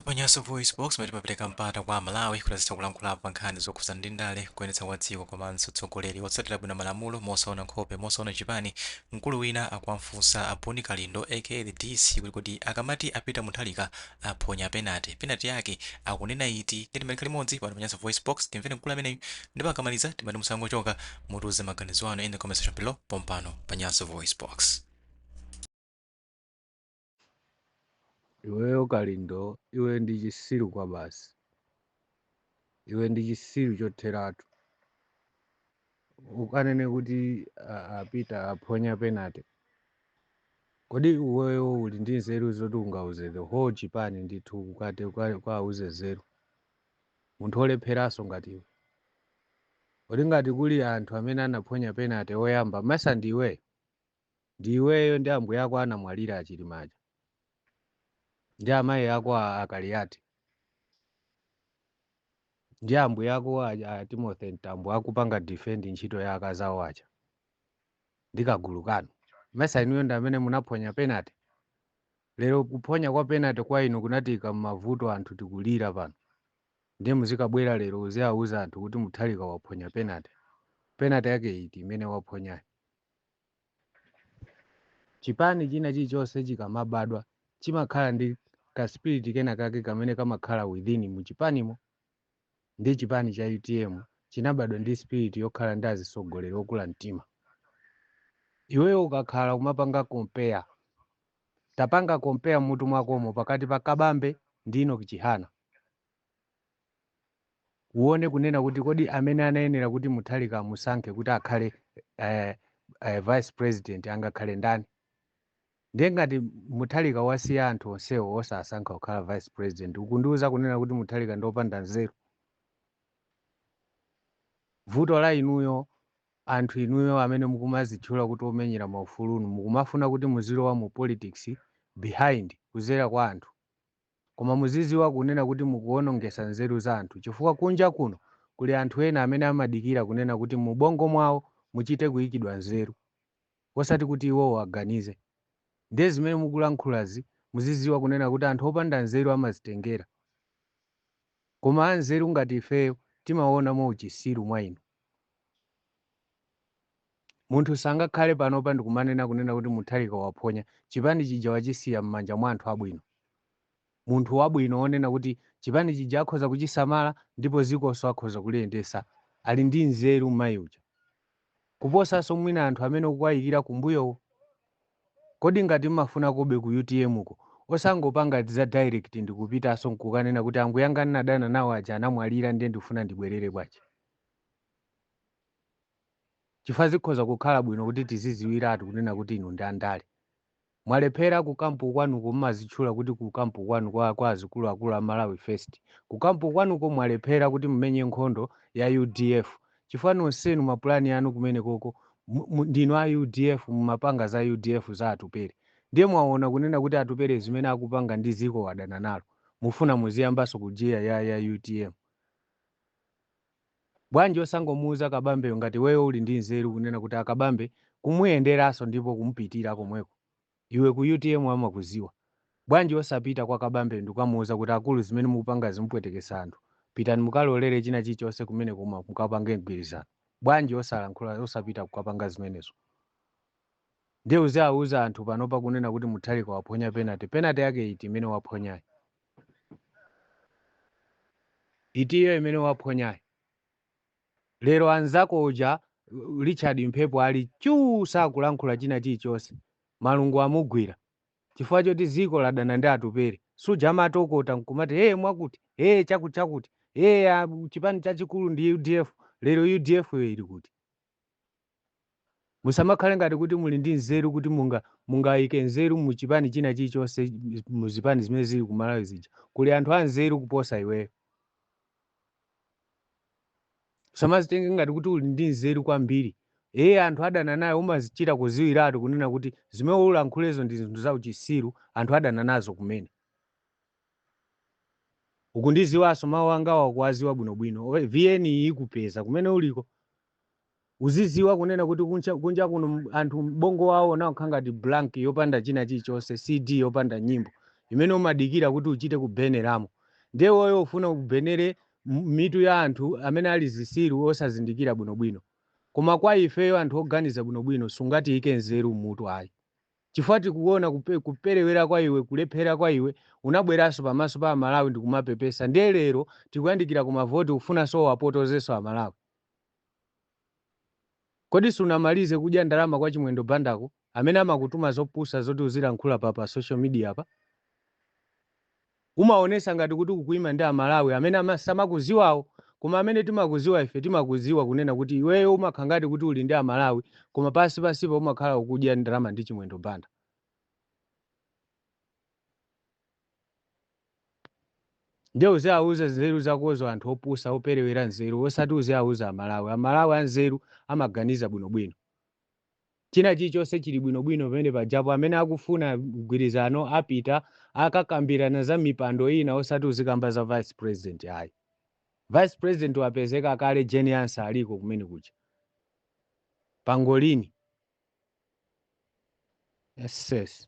Pa Nyasa VoiceBox, lomwe limapereka mpata kwa Amalawi kuti azitha kulankhulapo pa nkhani zokhudzana ndi ndale, kuyendetsa kwa dziko komanso utsogoleri wotsatira bwino malamulo mosaona nkhope, mosaona chipani, mkulu wina akuwafunsa a Bon Kalindo aka The DC kuti kodi akamati a Peter Mutharika aphonya penalty, penalty yake akunena iti? Ndiye timatikhala limodzi pano pa Nyasa VoiceBox, timvere mkulu ameneyu ndipo akamaliza timati musanachoke, mutiuze maganizo anu in the comment section below pompano pa Nyasa VoiceBox. Iweyo Kalindo, iwe ndi chisiru kwabasi. Iwe ndi chisiru chotheratu. Ukanene kuti a- a Peter aphonya penalty. Kodi iweyo uli ndi nzeru zoti ungauze the whole chipani ndithu ukati uka- ukauze nzeru. Munthu olepheraso ngati iwe. Kodi ngati kuli anthu amene anaphonya penalty oyamba, mesa ndi iweyo? Ndi iweyo ndi ambuye ako anamwalira a Chilima aja ndi amayi ako a, a Kaliati ndi ambuye ako a, a Timothy Mtambo akupanga defend ntchito ya akazi awo aja ndi kagulu kanu. Mesa inuyo ndi amene munaphonya penalty. Lero kuphonya kwa penalty kwa inu kunatiika m'mavuto anthu tikulira pano. Ndiye muzikabwera lero uziauza anthu kuti Mutharika waphonya penalty. Penalty yake iti imene waphonyayo? Chipani china chilichonse chikamabadwa chimakhala ndi ka spirit kena kake kamene kamakhala within mu chipanimo nde chipani cha UTM chinabadwa ndi spirit yokhala ndi azitsogoleri okula mtima. Iweyo ukakhala kumapanga compare tapanga compare mmutu mwakomo pakati pa Kabambe ndi Enock Chihana. uone kunena kuti kodi amene anayenera kuti Mutharika amusankhe kuti akhale eh, eh, vice president angakhale ndani ndiye ngati Mutharika wasiya anthu onsewo osasankha kukhala vice president ukundiuza kunena kuti Mutharika ndi opanda nzeru vuto la inuyo anthu inuyo amene mukumazitchula kuti omenyera maufulunu mukumafuna kuti muzilowa mu politics behind kuzera kwa anthu Koma muzidziwa kunena kuti mukuwonongesa nzeru za anthu chifukwa kunja kuno kuli anthu ena amene amadikira kunena kuti mu bongo mwawo muchite kuyikidwa nzeru osati kuti iwowo aganize ndiye zimene mukulankhulazi muzidziwa kunena kuti anthu opanda nzeru amazitengera koma anzeru ngati ifeyo timawona mwa uchisiru mwa inu. Munthu sangakhale panopa ndikumanena kunena kuti Mutharika waphonya, chipani chija wachisiya mmanja mwa anthu abwino. Munthu wabwino wonena kuti chipani chija akhoza kuchisamala ndipo zikoso akhoza kuliyendesa ali ndi nzeru mmayi uja kuposaso mwina anthu amene ukuwayikira kumbuyowo. Kodi ngati mmafunakobe ku utm ko osangopanga za direct ndikupitaso nkukanena kuti ambwiyanga ndinadana nawo aja anamwalira nde ndikufuna ndibwerere bwanji? Chifukwa zikhoza kukhala bwino kuti tiziziwiratu kunena kuti inu ndi andale. Mwalephera ku camp kwanuko mumazitchula kuti ku camp kwanu kwa kwa azikuluakulu a Malawi first. Ku camp kwanuko mwalephera kuti mumenye nkhondo ya udf chifukwa nonsenu ma plan anu kumenekoko ndinu a udf mumapanga za udf za Atupele. Ndiye mwaona kunena kuti Atupele zimene akupanga ndi dziko wadana nalo mufuna muziyambanso kujiya ya ya utm. Bwanji osangomuuza kabambeyo ngati iweyo uli ndi nzeru kunena kuti akabambe kumuyenderaso ndipo kumupitira komweko iwe ku utm amakuziwa bwanji osapita kwa kabambeyo ndikukamuuza kuti akulu zimene mukupangazi mupwetekesa anthu pitani mukalolere china chilichonse kumeneko koma mukapange mgwirizano bwanji osalankhula osapita kukapanga zimenezo ndiye uziauza anthu panopa kunena kuti mutharika waphonya penalty penalty yake iti imene waphonyayo? Itiyo imene waphonyayo. Lero anzako uja Richard Mphepo ali chuu sakulankhula china chilichonse. Malungo amugwira. Chifukwa choti dziko ladana ndi Atupele. Suja amatokota n'kumati ee mwakuti, ee chakutichakuti, ee chipani chachikulu ndi udf. Lero udf yo ili kuti? Musamakhale ngati kuti muli ndi nzeru kuti munga mungaike nzeru mu chipani china chilichonse mu zipani zimene zili ku Malawi zija. Kuli anthu anzeru kuposa iweyo. Usamazitenge ngati kuti uli ndi nzeru kwambiri. Ee anthu adana nayo umazichita kuziwiratu kunena kuti zimene ulankhulezo ndi zinthu zauchisiru anthu adana nazo kumene. Ukundiziwaso mau angawa ukuwaziwa bwino bwino vn ikupeza kumene uliko uziziwa kunena kuti kunja kunja kuno anthu bongo wawo unakhala ngati blank yopanda china chilichonse cd yopanda nyimbo imene umadikira kuti uchite kubeneramo ndiye iweyo ufuna ubenere mitu ya anthu amene ali zisiru osazindikira bwino bwino koma kwa ifeyo anthu oganiza bwino bwino sungatiike nzeru mmutu ayi. Chifukwa tikuona kupe, kuperewera kwa iwe, kulephera kwa iwe, unabweranso pamaso pa Amalawi ndikumapepesa ndiye lero tikuyandikira ku mavoti ukufunanso uwapotozenso Amalawi? Kodi sunamalize kudya ndalama kwa Chimwendo Bandako amene amakutuma zopusa zoti uzilankhula pa pa social media pa? Umaonesa ngati kuti ukuima ndi a Malawi amene amasamakuziwawo koma amene timakuziwa ife timakuziwa kunena kuti iweyo umakhala ngati kuti uli ndi a Malawi koma pansi pansipa umakhala ukudya ndalama ndi Chimwendo Banda. Ndiye uziauza nzeru zakozo anthu opusa operewera nzeru osati uziauza a Malawi. A Malawi anzeru amaganiza bwino bwino. China chilichonse chili bwinobwino pamene pajapo. Amene akufuna mgwirizano apita akakambirana za mipando ina osati uzikamba za vice president ayi. Vice president wapezeka kale Jane Ansah aliko kumene kuja. Pangolini. Nonsense.